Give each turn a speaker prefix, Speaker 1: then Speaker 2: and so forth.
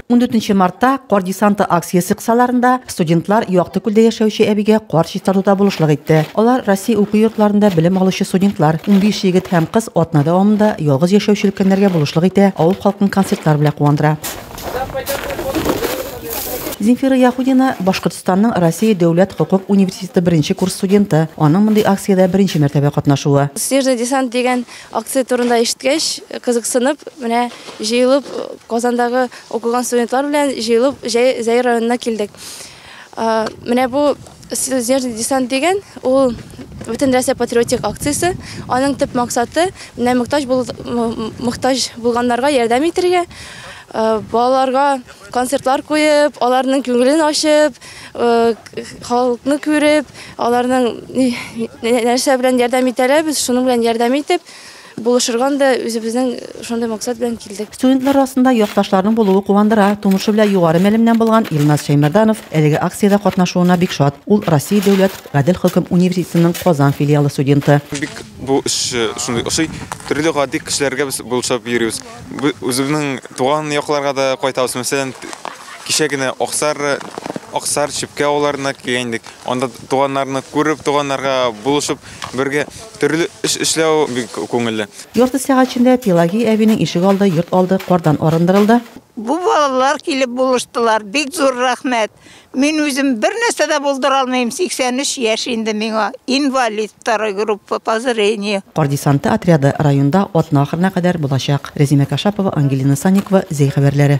Speaker 1: 14 мартта кар десанты акциясе кысаларында студентлар Якты күлдә яшәүче әбигә кар чистартуда булышлык итте. Алар Россия уку йортларында белем алучы студентлар, 15 егет һәм кыз атна дәвамында ялгыз яшәүче өлкәннәргә булышлык итә, авыл халкын концертлар белән куандыра. Земфира Яхудина Башкортстанның Россия дәүләт хокук университеты беренче курс студенты. Аның мондый акциядә беренче мәртәбә катнашуы. Снежный десант дигән
Speaker 2: Акция турында ишеткәч, кызыксынып, менә җыелып Казандагы укыган студентлар белән җыелып Зәй районына килдек. Менә бу Снежный десант дигән ул бөтен Россия патриотик акциясе. Аның төп максаты менә мөхтаҗ бул мөхтаҗ булганнарга ярдәм итәргә, балаларга концертлар куеп, аларның күңелен ачып, Халыкны күреп, аларның нәрсә белән ярдәм итәләр, без шуның белән ярдәм итеп, булышырга да үзебезнең шундый максат белән килдек. Студентлар арасында
Speaker 1: якташларның булуы куандыра. Тумышы белән югары мәлемнән булган Илназ Шәймәрданов әлеге акциядә катнашуына бик шат. Ул Россия дәүләт гадел хөкем университетының Казан филиалы студенты. Бик бу эш
Speaker 3: шундый ошый. Төрле гади кешеләргә без булышып йөрибез. Үзебезнең туган якларга да кайтабыз. Мәсәлән, Кичә генә Аксар, Аксар, Чепкә авылларына килгән идек. Анда туганнарны күреп, туганнарга булышып, бергә төрле эш эшләү бик күңелле. Ярты сәгать эчендә
Speaker 1: Пелагий әбинең ишек алды, йорт алды кардан арындырылды. Бу балалар
Speaker 4: килеп булыштылар, бик зур рәхмәт. Мин үзем бернәрсә дә булдыра алмыйм, 83 яшь инде миңа, инвалид второй группы по зрению. Кар десанты отряды
Speaker 1: районда атна ахырына кадәр булачак. Рәзимә Кашапова, Ангелина Санникова, Зәй хәбәрләре.